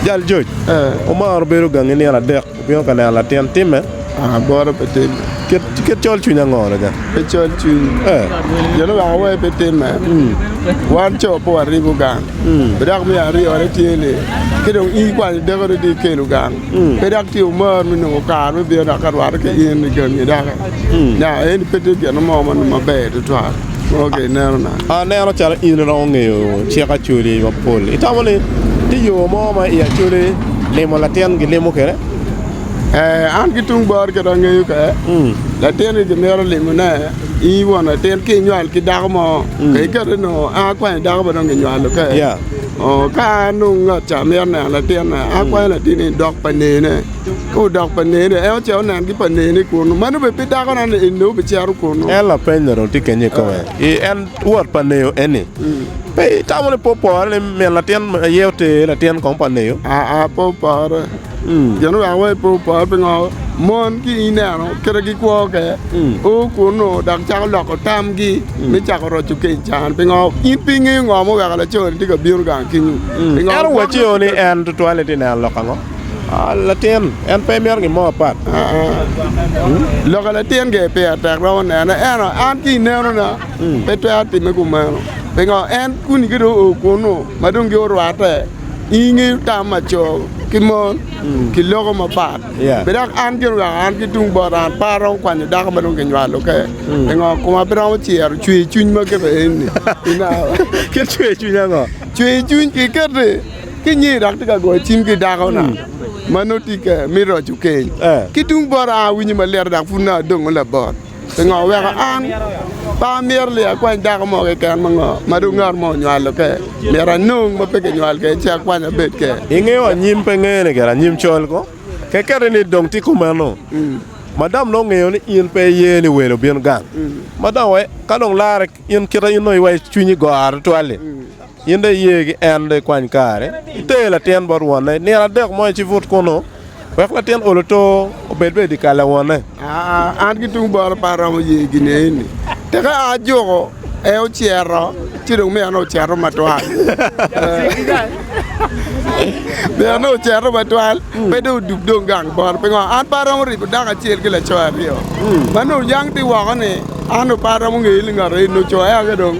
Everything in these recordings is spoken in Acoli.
Jal joc omaro bedo gangi nino adek obino ka neno latin timme. Kit colcwiny ango lega? Kit colcwiny gin ma weko awer pe timme, wan co pe waribo gang. Pe dok me aryone tye ni ka dong in ikwanyo dako ni dong ikelo gang, pe dok ci imar me nongo kare me bino dok ka rwatte ki in i gangi doki. Nya eni pe tye gin mo ma nongo maber tutwal ma ka inenona. Aneno calo in iromo ngeyo cik Acholi mapol. Itamo ni tye yo mo ma i Acholi limo latin gilimo kwede? Ee, an ki tung bor kit angeyo ka latinni gimito limone in won latin ka inywal ki dako mo mm. ka ikete no an akwanyo dako ma dong ginywalo ka ka anong ngat ca mito neno latinna mm. akwanyo latinni dok pa nene ka odok pa nene en oce onen ki pa nene kunu mano obe pe dakona ni enne obicero kunu en lapeny ni dong tye kenye kome ah. en wot pa neyo eni mm. pe itamo ni popore ni min latin aye ote latin kong pa neyo aa ah, ah, popore Gin orako wa i po opor pingo mon ki ineno kite gikwo ke o kunnu dok cako loko tamgi me cako roco keny can. Pingo? In pe ingeyo ngo ma oweko laco-ni tye ka bino gang kenyu. Pingo? Ento waco ni en tutwal-li tye neno lok ango? Latin, en pe mito gin mo apat. Loko latin ge peya tek romo nene, ento an ki inenona pe twero timme kumeno. Pingo? En kuni ki dong o kunnu ma dong gi orwatte. i nge tam ma co ki mon mm. ki loko mapat bed dok an gin wek an ki tung bot an pa aromo kwanyo dako ma dong kinywalo ke mm. ngo kuma biromo cero cwer cwiny ma kebe eni ki cwer cwiny ango cwer cwiny ki kete ki nyi dok ti ka goyo cim ki dako na mm. ma noti ke mi roco keny eh. ki tung bot an winyo ma lero dok pud na adongo labot Pingo weko an pe amyero ni akwany dako mo keken ma ngo ma dong ngat mo onywalo ke? Myero anong ma pe kinywal kede ci akwany abed ke. Ingeyo anyim pe ngene kede anyim col ko? Kekeri ni dong tye kumeno. Madam nongo ngeyo ni in pe iye ni welo bino gang. Madam wa ka dong larre in kite in nongo iwaco cwinyi goro tutwal-li. In dong iye ki en, dong ikwany kare, iter latin bot wonne i nino adek mo, ci ibut kunnu, wek latin olo to obed bene i dyekal pa wonne. An ki tung bota pe aromo ye gineni, teka a ajuko, ee, ocito, ci dong mine ocito matwal. Mine ocito matwal, pe dong odub dong gang bota. Pingo? An pe aromo ribo dako acel ki laco aryo ma nongo yang ti woko-ni, an dong pe aromo ngeye ni ngat aye nongo co ea-ki dong.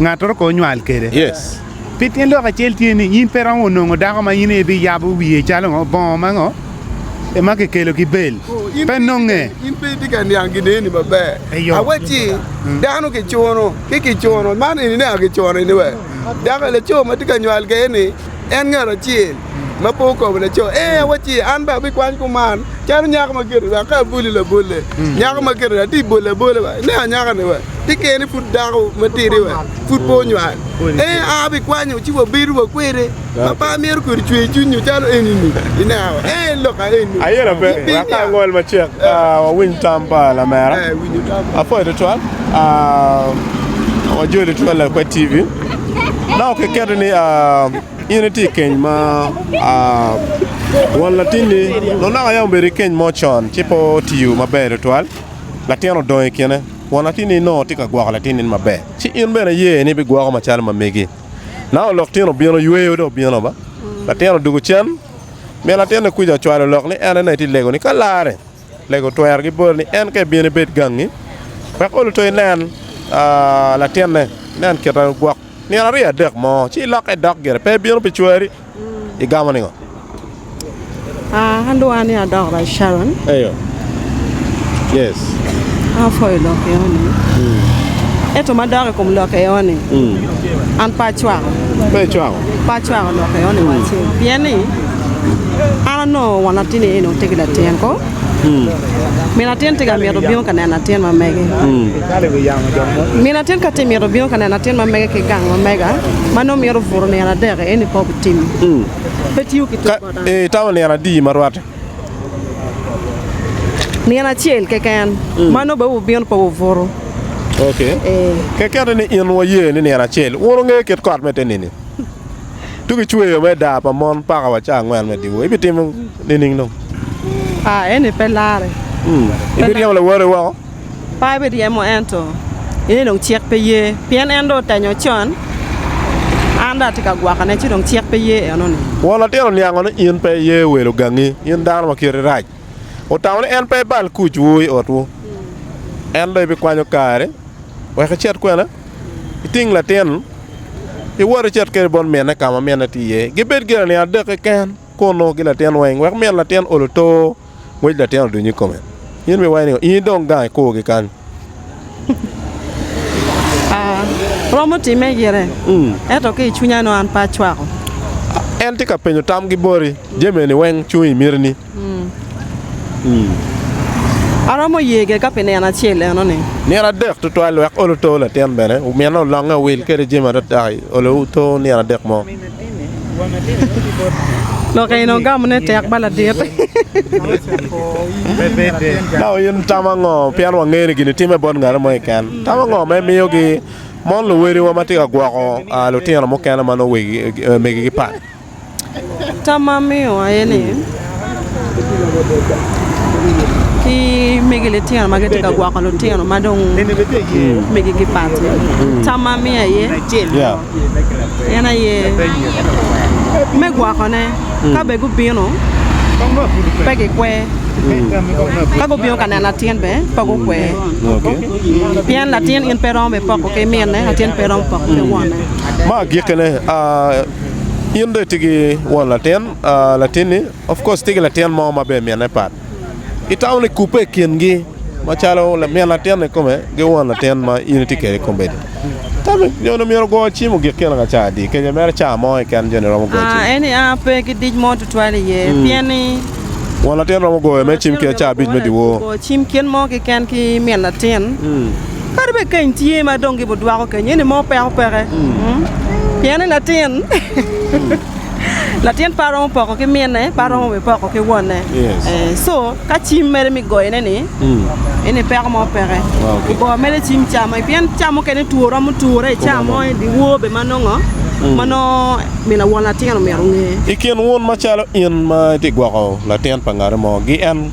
ngatoro ko onywal kede. Yes. Pi tyen lok acel tye ni in pe romo nongo dako ma in ibi yabo wiye calo ngo bongo ma ngo e ma kikelo ki bel. Pe nonge. In pe itye ka niang gideni maber. Eyo. Awacci mm. dano kicuno ki kicuno man ini neno kicuno ini we dako laco ma tye ka nywal kede ni En ngat acel ma pe okobo laco, Ee, awacci, an bene abikwany kuman, calo nyako ma kit-ti wek ka aboli labolle. Nyako ma kit-ti atye ka bolo abola wa, inen anyaka-ni wa, ti kene pud dako matidi wa, pud pe onywal. Ee, an abikwanyo ci wabedo wa kwede. Pappa mito kodi cwer cwiny nyo calo eni-ni, ineno? Ee, lok aye-ni. Ayelo pe, wek ka angol macek, wawiny tam pa lamera. Apwoyo tutwal, wajoli twol lakwed TV. Dok kiketi ni in itye i keny ma won latinni dong naka aye obedo ki keny mo con ci pe otiyo maber tutwal, latin odong i kine. Won latinni nongo tye ka gwoko latinni ni maber, ci in bene iye ni ibigwoko macalo ma megi. Naka olok tyen obino yweyo dong obino ba, latin odwogo cen, min latinni kuca ocwalo lok ni en aye nongo itye ka lego ni ka larre. Lega otwero ki boti ni, 'En ka ibino ibed gangi, wek olo to inen latinne, inen kite ma gwok nino aryo adek mo, ci ilokke idok gire, pe ibino pi cwari. Igamo ningo? An onongo won latin aye onongo tye ki latin ko min atin tye ka mito bino ka neno latin ma mege min atin ka tye ka mito bino ka neno latin ma mege ki gang ma mega ma nongo mito buto nino adek aye ni kong bitim pe tiyo ki ter bota I tamo nino adi ma rwatte? Nino acel keken ma nongo bene wubino pe wubuto Kekeni in waye ni nino acel wun wungeyo kit kot me te nini? Tuk i cweyo me daa pa mon paka wa cawa angwen me dyewor ibitimo nining dong? Ah eni pe larre. Hmm. Ibiryemo lawoti woko? Pa ibiryemo ento eni dong cik pe ye pien en dong otenyo con. An dong atye ka gwokone ci dong cik pe ye enoni. Won latin oniango ni in pe iye welo gangi, in dano ma kiti rac. Otamo ni en pe ibal kuc wu i otwu. En dong ibikwanyo kari. wek icit kwene iting latin, iwot icit kwede bot mine ka ma mine tye iye. Gibed gire nino adek keken kunnu ki latin weng, wek min latin ol oto, ngwec latin oduny i kome. In miwaci ni in idong gang ikurgi kany. Romo timme gire, ento ki i cwinya nongo an pe acwako. En tye ka penyo tamgi boti, jami eni weng cung i mitini. Aromo yege ka pi nino acel enoni. Nino adek tutwal wek olo to latin bene omine olonge owil kede jami adada i olo to nino adek mo. Lok eni ogamo ne tek ba ladit. Ka in tamo ango pien wangeyo ni gini time bot ngati mo keken? Tamo ango ma imiyo gi mon luweliwa ma tye ka gwoko lutino mukene ma nongo wegi megi gipat? Tam ma amiyo aye ni ki megi litino ma gitye ka gwoko litino ma dong megigi bati tam ma amiyo aye en aye me gwokone ka bene gubino pe gikwer ka gubino ka neno latin bene pe gukwer pien latin in pe iromo bipoko ki minne latin pe iromo poko ki wonne. In dong itye ki won latin, latinni of course tye ki latin mo ma bene mine pat. Itamo ni kubbe i kingi macalo min latinni kome ki won latin ma in itye kwede kombeddi. Tami nyo onongo myero ogo cim ogik kene ka cawa adi? Kenyo mere cawa mo keken joni romo goyo cim? Aa, eni aa pe ki dic mo tutwal iye pien ni Won latin romo goyo mere cim kit cawa abic me dyewor. ogo cim kit mo keken ki min latin. Kadi bed keny tye ma dong gib odwako keny eni mo peko peke pien ni latin latin pe aromo poko ki mine pe aromo bene poko ki wonne co ka cim mere mi goyone ni eni peko mo peke ogo mere cim camo pien cawa mukene two romo ture ica mo i dyewor bene ma nongo ma nongo min awon latin omyero onge. I kin wun macalo in ma itye gwoko latin pa ngati mo gi en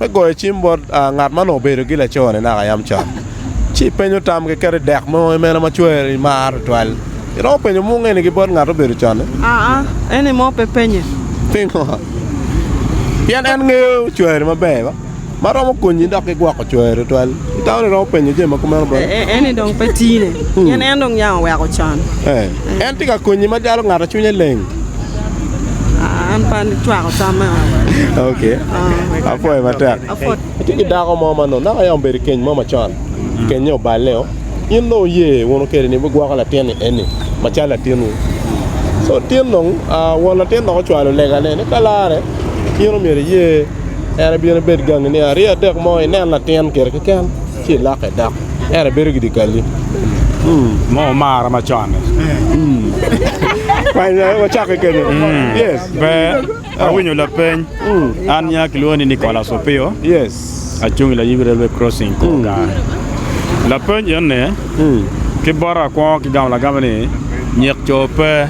me goyo cim bot ngat ma onongo obedo ki laco-ni naka yam con, ci ipenyo tam keken i dek mo i meno ma cwer imaro tutwal. Iromo penyo mungene ki bot ngat ma obedo con-ni? Aa, en aye mo pe penye. Pingo? Pien en ngeyo cwer maber ba, ma romo konyi dok ki gwoko cwer tutwal. Itamo ni iromo penye jami ma kumeno bot-ti? Ee, eni dong pe tine, pien en dong yam oweko con. Ee, en tye ka konyi macalo ngat ma cwinye leng. An pe acwako tam meno. Ok. Apwoyo matek. Apwod. Atye ki dako mo ma nongo naka aye obedo i keny mo macon. Kenye oballe-o. In dong wuye wunu kwede ni wugwoko latin-ni eni macalo latinwu. Co tin dong won latin dok ocwalo legane ni ka larre in omyero iye en ebin ebed gangi nino aryo adek mo inen latin kite keken. ci ilokke dok ento ibedo ki dikali mo omara ma con-ni wacakke kenyo yes ber awinyo lapeny an nya kilwongo ni Nicholas Opio yes acung i layib railway crossing kor gar lapeny eni ki bota akwongo ki gamo lagame ni nyek co pe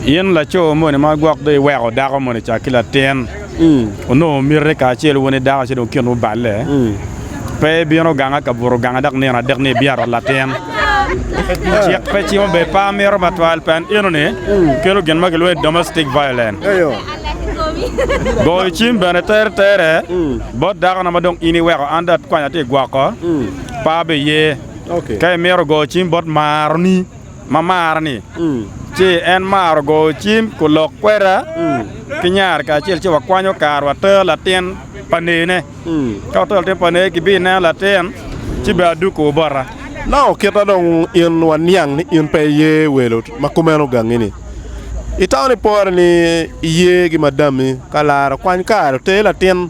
in laco moni ma gwok dong iweko dako moni ca ki latin onongo mite kacel wun idako ci dong kinwu balle, pe ibino ganga ka buto ganga dok nino adek ni ibiato latin. Cik pe cimo bed pa mito matwal pien enoni kelo gin ma kilwongo ni domestic violence. Goyo cim bene teretere bot dakona ma dong in iweko an dong akwanya tye gwoko pa bene iye. Ka imito goyo cim bot maroni. ma marani, ci en maro goyo cim kun lok kweda ki nyare kacel ci wakwanyo kare water latin pa neyine. Ka watero latin pa neye kibineno latin ci bene aduko wu bota. Nongo okita dong in waniang ni in pe iye welo ma kumeno gangini. Itamo ni pore ni iye gi madami ka lara okwany kare oter latin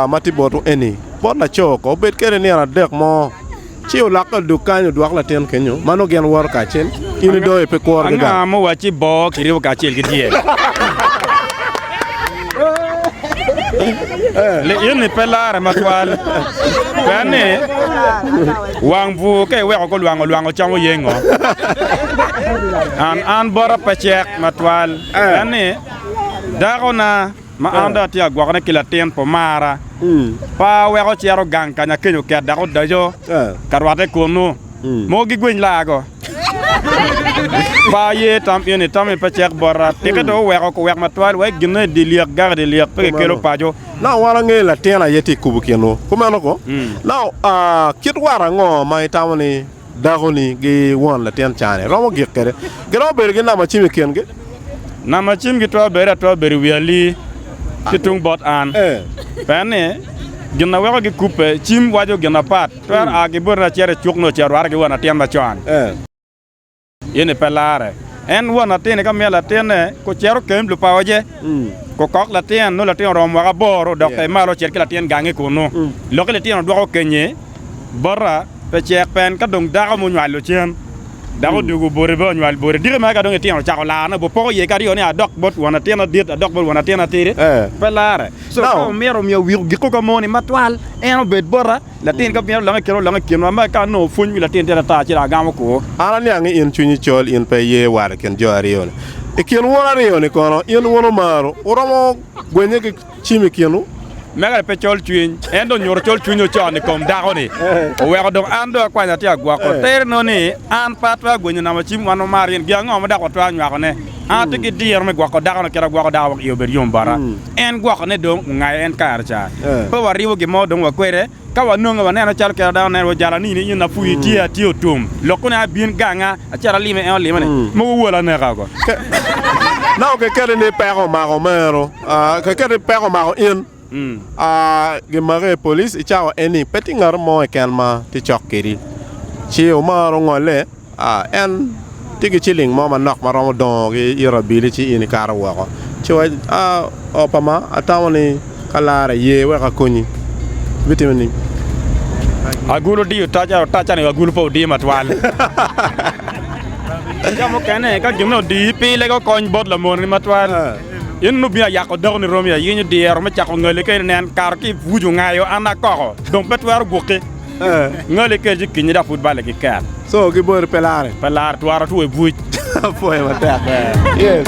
ma tye botwu eni bot laco ko obed kwede nino adek mo. Ci olokke odok kany, odwoko latin kenyo, ma nongo gin woto kacel. In idoyo, pe kur giga. Anga muwacci bo kiribo kacel ki dyel? Li-ini pe larre matwal, pien ni wang bwur ka iweko gulwango lwango camo yengo. An, an bota pe cek matwal, pien ni dakona. ma an dong atye ka gwokone ki latin pa omara, pa weko cito gang ka nyakenyo oket dok odaco ka rwatte kunnu. Mogo gigwiny laago. Pa aye tam eni, tam eni pe cek bota. Tike dong oweko kuwek matwal wek ginne i dye lyek gak i dye lyek pe gikelo paco. Naka wan angeyo latin aye tye ka kubo kinwu. Kumeno, kit war ango ma itamo ni Dako-ni ki won latin can-ni romo gik kwede. Giromo bedo ki namacim i kingi. Namacim gitwero bedo atwera bedo i wi ali ki tung bot an. Pien ni, gin a weko gikubbe cim waco gin apat, twero a ki boti lacit i cuk nyo ce orwate ki won latin macon. Ini pe larre. En won latin-ni ka miyo latinne ku cito kemb lupaoje, ku kok latin, nongo latin oromo mwaka aboro dok ter malo ocit ki latin gangi kunnu. Lokki litino dwoko kenyi bota pe cek pen ka dong dako ma onywalo cen dok odugu boti pe onywal boti. Diki mere ka dong itino ocako laro nabo poko iye ki aryo ni adok bot won latin adit adok bot won latin atidi, pe larre. So ka omito miyo wik ogikko ka moni matwal, en obed bota. Latin ka mito lokke kit olok i kinwa, ma ka nongo pwony wi latin tere ata ci dong agamo kwo. An aniang ni in cwinyi col, in pe iye wat i kin jo aryo-ni. I kin wun aryo-ni kono, in wun omaru wuromo gwenye ki cim i kinwu? Mega-ni pe col cwiny, en dong onyuto col cwinye ocon i kom dako-ni, oweko dong an dong akwany atye agwoko tere nongo ni, An pe atwero gwenyo namo cim wan wamar in, gin ango ma dok watwero nywakone? An atye ki diro me gwoko dakona kit ma agwoko dako wek iye obed yom bota. En gwokone dong ongayo en kare ca. Pe waribo gin mo dong wa kwede. Ka wanonge, wanene calo kit ma dano neno, wajalo anini i nyonyo apwii tye, atye otum. Lok koni aye abin ganga, acito alime, en olima ni, Mogo owola aneka oko. Nongo kiketi ni peko omako meno, kiketi ni peko omako in. Gimage i police i cawa eni pe tye ngat mo keken ma tye cok kwedi. Ci omaro ongole, en tye ki ciling mo manok ma romo dongo ki ito abili ci in ikato woko. Ci waco ni, Opama, atamo ni ka larre iye wek akonyi. Bitimo ni? Agulu odiyo otaca, otaca ni agulu pe odiyo matwal. Jo mukene ka gin me odiyi pile, gukony bot lamoni matwal. In lubinga yak odakoni romi ayinyo dyero me cako ngali keni nen kare ki ipucu ngayo an akoko dong pe twero guki ngali keni ci kinyi dok pud bale ki ket so ki boti pe lare pe lare twara two ibuc apoye matek yes